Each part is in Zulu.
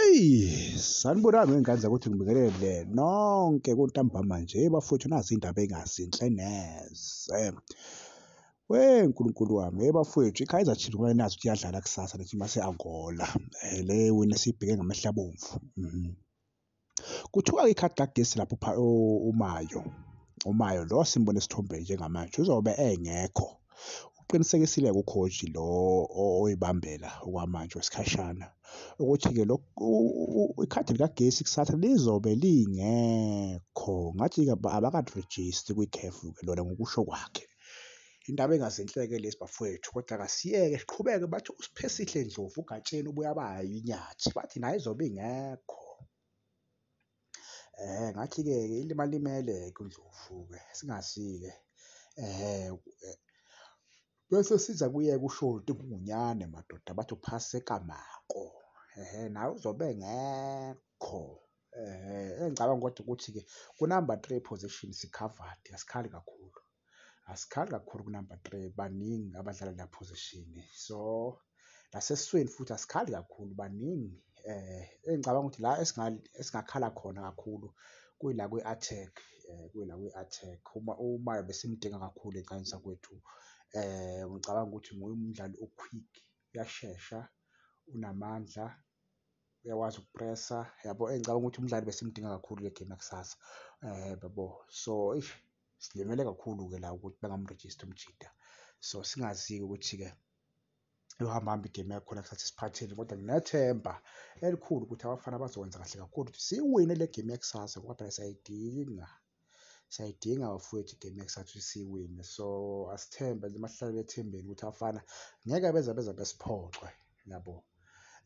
Eyi sanibonani ngey'ngane zakuthi ngibingelele nonke kuntambama nje bafowethu nazi iy'ndaba ey'ngazinhle neze. We Nkulunkulu wami hey bafowethu i-Kaizer Chiefs kumele nazi ukuthi iyadlala kusasa nethi mase-Angola le wena esiyibheke ngamehlo abomvu . Kuthiwa-ke ikhadi kagesi lapho uMayo, uMayo lo simbona esithombeni njengamanje uzobe engekho. Uqinisekisile kukhoji lo oyibambela okwamanje wesikhashana ukuthi-ke ikhadi likagesi kusatha lizobe lingekho ngathi-ke abakalirejisti kwi-CAF-ke lona ngokusho kwakhe. Indaba engazinhleke lezi bafowethu kodwa kasiyeke siqhubeke bathi uSiphesihle Ndlovu uGatsheni ubuye abaya inyathi bathi naye izobe ingekho eh ngathi-ke ilima limele-ke uNdlovu-ke singazi-ke eh bese siza kuye kushoti kungunyane madoda bathi uphase kamako ehe nawe uzobe ngekho eh engicabanga kodwa ukuthi-ke kunumber three position sikhavadi asikhali kakhulu. asikhanga kakhulu kunumber three baningi abadlala la position so nasesiswini futhi asikhali kakhulu baningi eh engicabanga ukuthi la esingakhala khona kakhulu kuyila kwi-attack eh kuyila kwi-attack uma uma besimdinga kakhulu eqanisa kwethu eh ngicabanga ukuthi nguye umdlali oquick uyashesha unamandla uyakwazi ukupressa yabo eyi ngicabanga ukuthi umdlali besimdinga kakhulu le game yakusasa um yabo so eish silimele kakhulu-ke la ukuthi bengamrejista umjida so singazi-ke ukuthi-ke yohamba hamba igame yakhona kusathi siphatheni kodwa nginethemba elikhulu ukuthi abafana bazokwenza kahle kakhulu ukuthi siwine le game yakusasa ngoba phela siyayidinga. Siyayidinga bafowethu igame yakusathu siyiwine. So asithembe nje masihlale ethembeni ukuthi abafana ngeke beze beze besiphoxe yabo.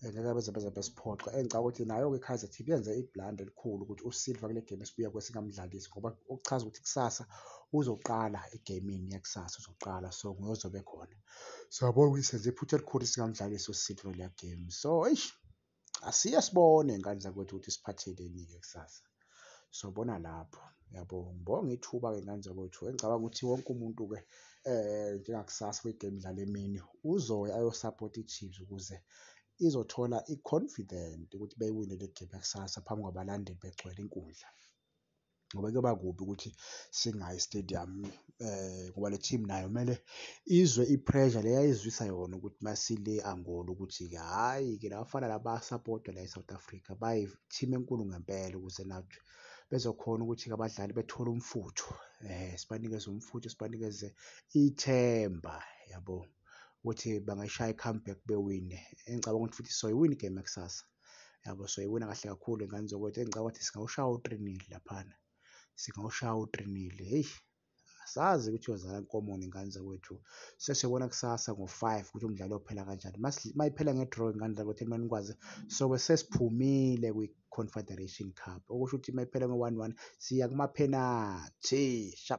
Eh, ngeke beze beze besiphoxe. Engicabanga ukuthi nayo-ke iKaizer Chiefs yenze ibhlanda elikhulu ukuthi uSilva kule game esibuya kuyo singamdlalisi ngoba okuchaza ukuthi kusasa uzoqala egamini yakusasa uzoqala so nguyozobe khona. Siyabona ukuthi senze iphutha elikhulu singamdlalisi uSilva kule game. So eish asiye sibone ngane zakwethu ukuthi siphatheleni-ke kusasa sobona lapho yabo ngibonga ithuba-ke ngane zakwethu engicabanga ukuthi wonke umuntu-ke um njengakusasa kwigame idlala emini uzoya ayosapota i-chiefs ukuze izothola i-confident ukuthi beyiwine le game yakusasa phambi kwabalandeli begcwele inkundla ngoba kuyoba kubi ukuthi singayi stadium eh ngoba le team nayo kumele izwe i-pressure le yayizwisa yona ukuthi masile Angola ukuthi hhayi ke labafana laba sapota la e-South Africa bayi team enkulu ngempela ukuze nathi bezokhona ukuthi-ke abadlali bethole umfutho eh sibanikeze umfutho sibanikeze ithemba yabo ukuthi bangashaya i-comeback bewine engicabanga ukuthi futhi soyiwina igame yakusasa yabo so ibona kahle kakhulu ingane zokwethu engicabanga ukuthi singawushaya u-three laphana singawushaya u-three heyi asazi ukuthi yozala nkomo nengane zakwethu sesiyobona kusasa ngo-five ukuthi umdlalo ophela kanjani uma iphela nge-draw ingane zakwethu elimane nikwazi sobe sesiphumile kwi-confederation cup okusho ukuthi uma iphela ngo-one one siya kumaphenathi shap